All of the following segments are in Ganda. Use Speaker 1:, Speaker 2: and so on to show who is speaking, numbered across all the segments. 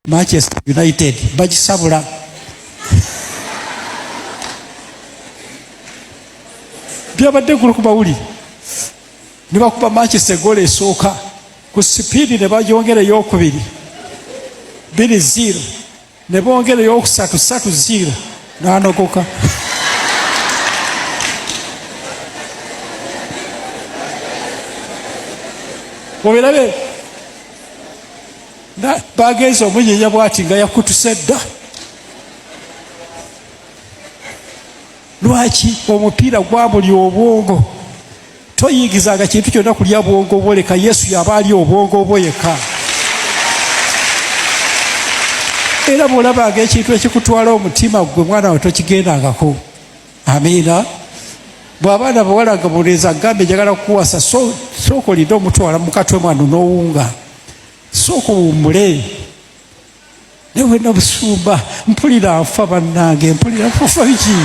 Speaker 1: Manchester United bagisabula byabadde gulu ku mawulire ne bakuba Manchester egoolo esooka ku sipiidi ne bagyongera eyokubiri biri ziiro ne bongera eyokusatu satu ziiro n'anogoka obirabe bagenze omunyinya bwati nga yakutuse dda lwaki omupiira gwabuli obwongo toyigizanga kintu kyonna kulya bwongo bwo leka yesu yaba ali obwongo bwo yekka era bwolabanga ekintu ekikutwala omutima gwe mwana we tokigendangako amiina bwabaana bawala nga buleeza gambe njagala kukuwasa sooka olinde omutwala mukatwe mwano nowunga sooka owummule newe nabusumba mpulira nfa bannange mpulira nfufa biki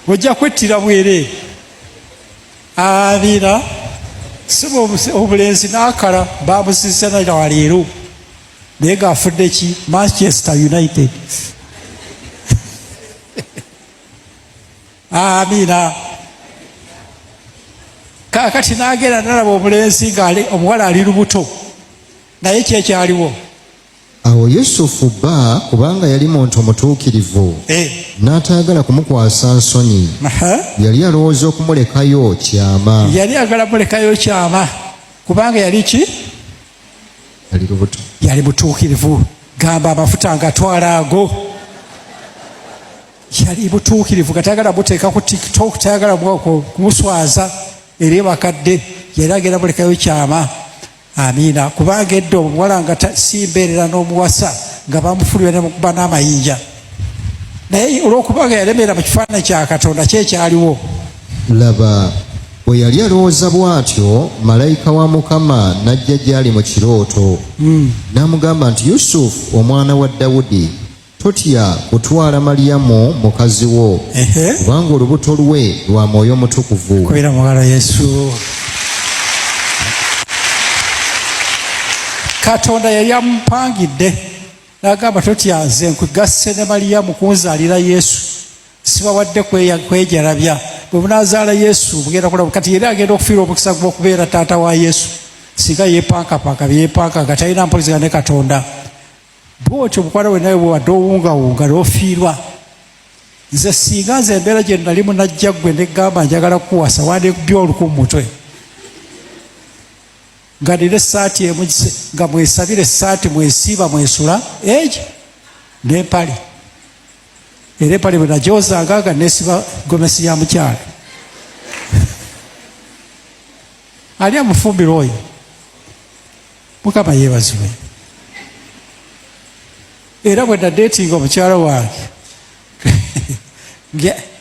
Speaker 1: ojja kwettira bwere abira siba obulenzi nakala bamusisanira waleero naye ngaafudde ki manchester united Amina. Kakati nagenda nalaba omulenzi nga omuwala ali lubuto, naye kyekyaliwo Awo
Speaker 2: Yusufu bba kubanga yali muntu mutuukirivu eh. n'ataagala kumukwasa nsonyi yali alowooza okumulekayo kyama yali agala mulekayo
Speaker 1: kyama kubanga yali ki
Speaker 2: yali lubuto yali mutuukirivu
Speaker 1: gamba amafuta ngatwala ago yali butuukirivu nga tayagala buteeka ku tiktok tayagala kumuswaza era ebakadde yali agenda bulekayo kyama amiina kubanga edda omuwala nga si mbeerera n'omuwasa nga bamufulira nemukuba n'amayinja naye olwokubanga yalemeera mu kifaananyi kya katonda kyekyaliwo laba
Speaker 2: bwe yali alowooza bw'atyo malayika wa mukama n'ajja gy'ali mu kirooto hmm. n'amugamba nti yusufu omwana wa dawudi Totya kutwala Malyamu mukazi wo, kubanga olubuto lwe lwa Mwoyo Mutukuvu. Kubira mugalo Yesu.
Speaker 1: Katonda yali amupangidde n'agamba totya nze nkugasse ne Malyamu kunzaalira Yesu, sibawadde kwejalabya bwe bunaazaala Yesu mugenda kulaba. Kati yali agenda okufiira omukisa gw'okubeera taata wa Yesu singa yeepankapanka byeyepanka nga talina mpulizigana ne Katonda. bwotyo mukwano we nawe bwewade owungawunga nofiirwa nze singa nze embeera gye nalimu najja gwe negamba njagala kuwasa wandekubya oluku mu mutwe nga nina esaati emu nga mwesabira esaati mwesiiba mwesula egi nempale era empale bwenajozanga nga nesiba gomesi ya mukyalo ali amufumbirwa oyo mukama yebazibwe era bwe nadeetinga omukyala wange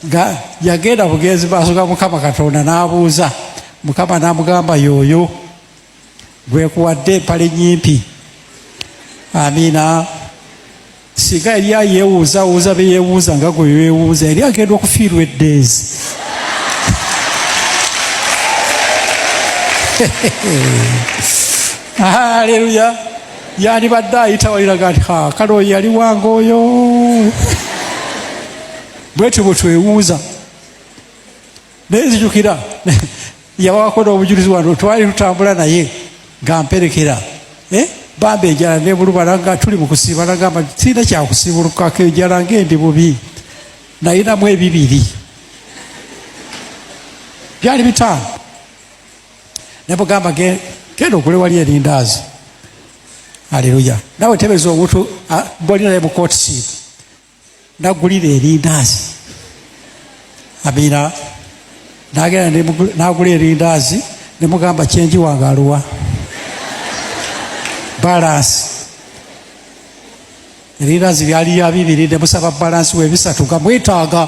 Speaker 1: nga yagenda bugenzi maaso ga mukama katonda n'abuuza mukama n'amugamba yooyo gwekuwadde empale nyimpi amiina singa yali ayeewuuzaawuuza be yeewuuza nga gwe weewuuza yali agenda okufiirwa eddeezi aleluya yandibadde ayita waliraga nti kale oyo yali wange oyo bwetyo bwe twewuuza naye nzijukira yawako n'obujulizi wano twali tutambula naye nga mperekera eh? bambi enjala nebulubala nga tuli mu kusiiba nagamba sirina kyakusiibulukako enjala ngaendi bubi nayinamu ebibiri byali bitaano nebugamba genda okule wali erindaazi aleluya nawe tebeza omuntu bolinaye mukootisiibu nagulira erindaazi amira nagenda nagula erindaazi nemugamba kyenji wange aluwa balansi erindaazi byali ya bibiri nemusaba balansi webisatu nga mwetaaga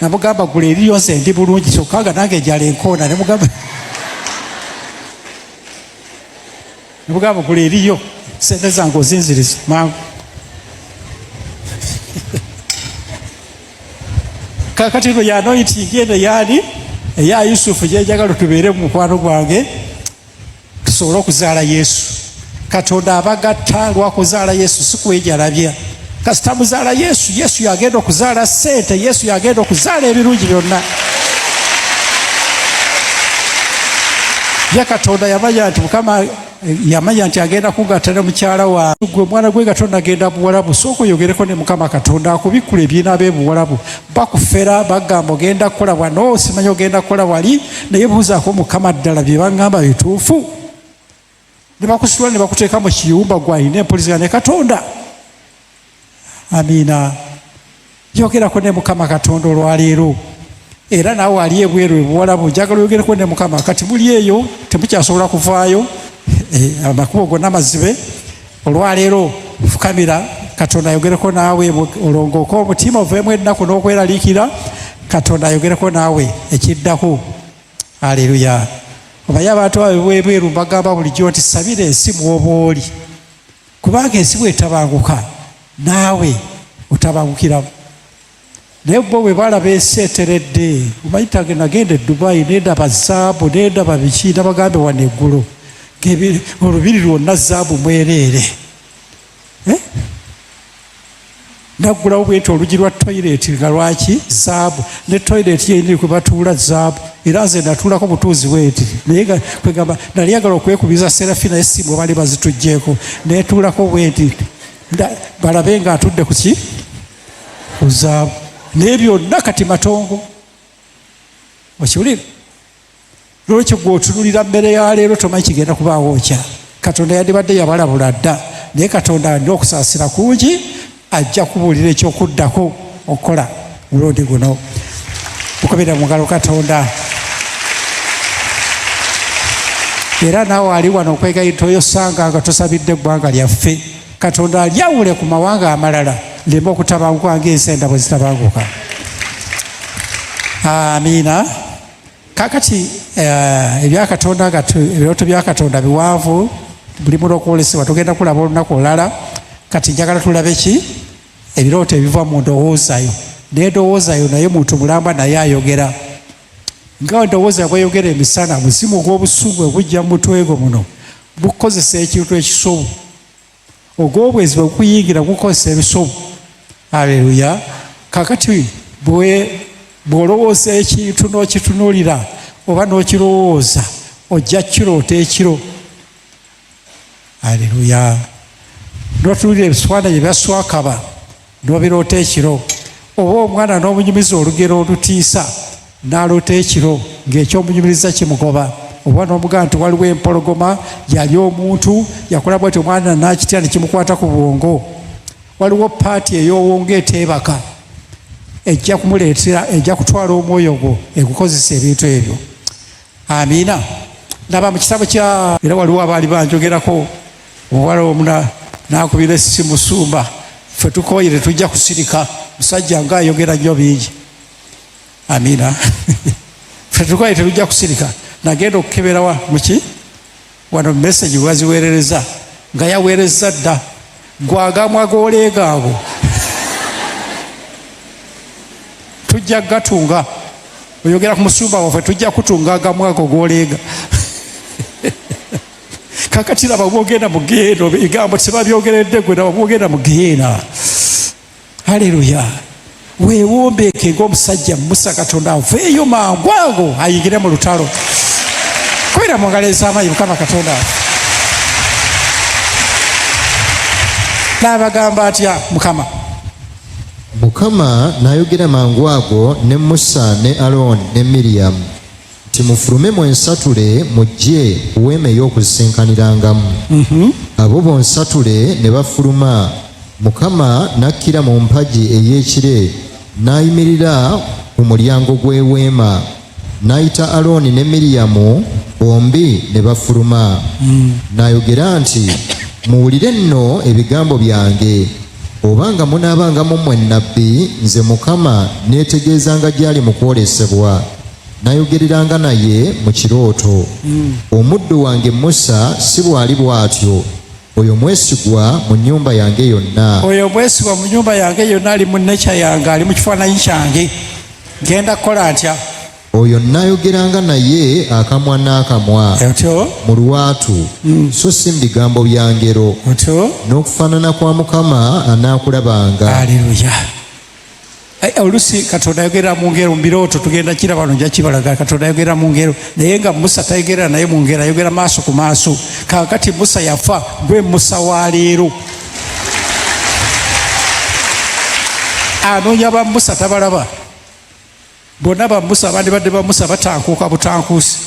Speaker 1: namugamba gula eriyo nze ndi bulungi kyokka nga nange njala enkoona nemugamba nemugamba gula eriyo sente zange ozinziriza mangu kakati no yanoitingi eno yaani eya yusufu gyenjagala tubeere mu mukwano gwange tusobole okuzaala yesu katonda abagatta lwakuzaala yesu sikwejalabya kasita muzaala yesu yesu yagenda okuzaala sente yesu yagenda okuzaala ebirungi byonna ye katonda yamanya nti mukama yamanya nti agenda kugatta ne mukyala wagwe omwana gwe nga tonagenda buwalabu sooka oyogereko ne mukama katonda akubikkula ebyina be buwalabu bakufera bagamba ogenda kukola wano osimanya ogenda kukola wali naye buuzaako mukama ddala bye baŋŋamba bituufu ne bakusitula ne bakuteeka mu kiyumba gwalina empulizigana ne katonda amiina yogerako ne mukama katonda olwaleero era naawe ali ebweru ebuwalabu njagala oyogereko ne mukama kati muli eyo temukyasobola kuvaayo eh, amakubo gonna mazibe olwaleero fukamira katonda ayogereko naawe olongooke omutima oveemu ennaku n'okweraliikira katonda ayogereko naawe ekiddako aleluya obaye abantu abo bwebweru mbagamba bulijjo nti sabira ensi mwoba oli kubanga ensi bwetabanguka naawe otabangukiramu naye bo bwe balaba ensi eteredde omayitage nagenda e dubayi nendaba zaabu nendaba biki nabagambe wano eggulo olubiri lwonna zaabu mwereere eh? naggulawo bwenti olugi lwa toyireti nga lwaki zaabu ne toyireti yenyini kwe batuula zaabu era nze natuulako butuuzi bwenti naye kwegamba nali yagala okwekubiza serafi naye simu bali bazitugyeko netuulako bwenti balabe nga atudde kuki kuzaabu naye byonna kati matongo okiwulire lwekyo gwe otunulira mmere ya leero tomanyi kigenda kubaawo okya katonda yandibadde yabalabula dda naye katonda alina okusaasira kungi ajja kubuulira ekyokuddako okukola mulundi guno okubira mungalo katonda era naawe ali wano okwegayita oyosanga nga tusabidde eggwanga lyaffe katonda alyawule ku mawanga amalala leme okutabanguka ngaensi enda bwe zitabanguka amiina kakati eh, ebya katonda nga ebirooto bya katonda biwanvu bulimu lwokwolesebwa tugenda kulaba olunaku olulala kati njagala tulabe ki ebirooto ebiva mu ndowoozayo naye ndowoozayo naye muntu mulamba naye ayogera nga ndowooza bweyogera emisana muzimu ogw'obusungu ogujja mu mutwe gwo muno gukozesa ekintu ekisobu ogwobwezi bwekuyingira gukozesa ebisobu aleluya kakati bwolowooza ekintu nokitunulira oba nokirowooza ojja kiroota ekiro aleluya notunulira ebiswana gye byaswakaba N'obiroota ekiro, oba omwana n'omunyumiza olugero olutiisa, n'aloota ekiro ng'eky'omunyumiriza kimugoba, oba n'omugamba nti waliwo empologoma yalya omuntu, yakola bwati omwana n'akitya ne kimukwata ku bwongo, waliwo paati ey'owongo eteebaka ejja kumuleetera, ejja kutwala omwoyo gwo egukozesa ebintu ebyo. Amiina. Ndaba mu kitabo kya era waliwo abaali banjogerako omuwala omu n'akubira essi musumba, ffe tukooye tetujja kusirika musajja nga ayogera nnyo bingi. Amiina. Ffe tukooye tetujja kusirika nagenda okukeberawa muki Wano message waziwerereza nga yawerezza dda gwagamwa goleega ago tujja gatunga oyogera ku musumba waffe tujja kutunga agamu ago goleega kakati laba bwogenda mu geyeena ebigambo tebabyogeredde gwe laba bwogenda mu geyeena haleluya wewombeeke ngaomusajja musa katonda aveeyo mangu ago ayingire mu lutalo kubera mu ngalo ezamaanyi mukama katonda afe naabagamba atya mukama mukama
Speaker 2: n'ayogera mangu ago ne musa ne alooni ne miriyamu nti mufulume mwensatule mujje ku weema ey'okusisinkaniraangamu. Mhm. Abo bonsatule ne bafuluma, Mukama n'akkira mu mpagi ey'ekire n'ayimirira ku mulyango gw'eweema, n'ayita Alooni ne Miriyamu, bombi ne bafuluma. Mm. N'ayogera nti, Muwulire nno ebigambo byange. Oba nga munaabanga mu mmwe nnabbi, nze Mukama neetegeezanga gy'ali mu kwolesebwa. Nayogereranga naye mu kirooto. Hmm. Omuddu wange Musa si bw'ali bw'atyo, oyo mwesigwa mu nnyumba yange yonna. Oyo mwesigwa mu
Speaker 1: nnyumba yange yonna ali mu nekya yange, ali mu kifaananyi kyange. Ngenda kukola ntya? oyo
Speaker 2: nnayogeranga naye akamwa n'akamwa mu lwatu mm. so si mu bigambo bya ngero n'okufaanana kwa mukama anaakulabanga aleluya
Speaker 1: olusi katonda ayogera mungero mubiroto tugenda kira bano nja kibalaga katonda ayogera mungero naye nga musa tayogera naye mungero ayogera maaso ku maaso kakati musa yafa gwe musa wa leero anoonya ba musa tabalaba bonna bamusa bandibadde bamusa batankuuka butankuusi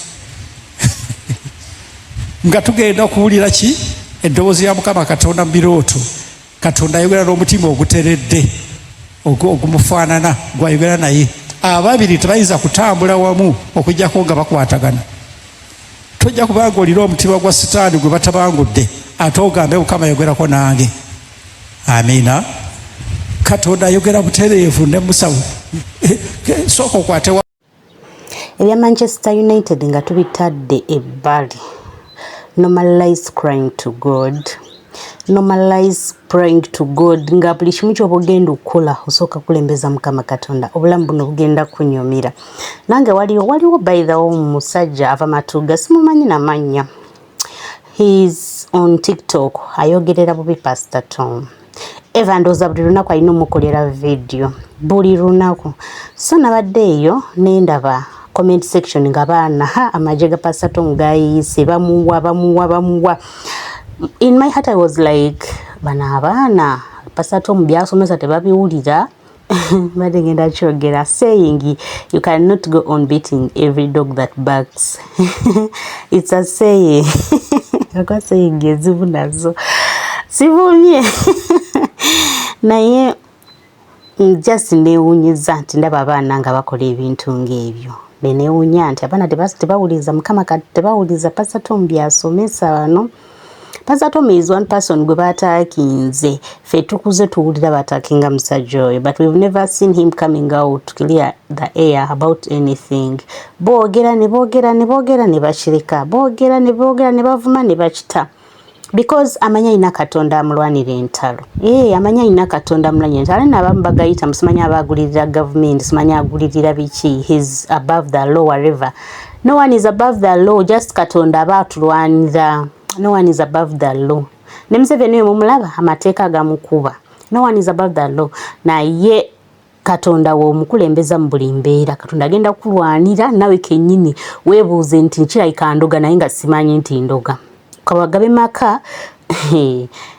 Speaker 1: nga tugenda okuwulira ki eddoboozi ya mukama katonda mu birooto katonda ayogera n'omutima oguteredde ogumufaanana gwayogera naye ababiri tebayinza kutambula wamu okujjako nga bakwatagana tojja kubanga olina omutima gwa sitaani gwe batabangudde ate ogambe mukama ayogerako nange amiina katonda ayogera butereevu ne musawo eh, eh, sooka okwatewa
Speaker 3: ebya manchester united nga tubitadde ebbali normalize crying to god normalize praying to god nga buli kimu kyoba ogenda okukola osooka kulembeza mukama katonda obulamu buno bugenda kunyumira nange waliwo waliwo baithawo omusajja ava matuga simumanyi namannya he's on tiktok ayogerera bubi pastor tom eva ndooza buli lunaku alina omukolera vidiyo buli lunaku so nabadde eyo nendaba comment section nga baana ha amagye ga pastor tom gayiyise bamuwa bamuwa bamuwa in my heart i was like bana abaana pastor tom byasomesa tebabiwulira mbadde ngenda kyogera saying you can not go on beating every dog that barks it's a saying akwa saying ezibu nazo sivumye naye just newunyiza nti ndaba abaana nga bakola ebintu ng'ebyo nenewunya nti abaana tebawuliza mukama tebawuliza pasatombi asomesa bano te Pasatomi is one person gwe baataakinze fe tukuze tuwulira baataakinga musajja oyo but we've never seen him coming out to clear the air about anything boogera ne boogera ne boogera ne bakireka boogera ne boogera ne bavuma ne bakita because amanya alina katonda amulwanira entalo ee eh, amanya alina katonda amulwanira entalo alina abamu bagayita musimanya abaagulirira gavumenti simanya agulirira biki his above the law whatever No one is above the law, just Katonda aba atulwanira. No one is above the law. Ne Museveni oyo mumulaba amateeka gamukuba. No one is above the law. Naye Katonda w'omukulembeza mu buli mbeera. Katonda agenda kukulwanira nawe kennyini weebuuze nti nkirabika ndoga naye nga simanyi nti ndoga. Kawagabe maka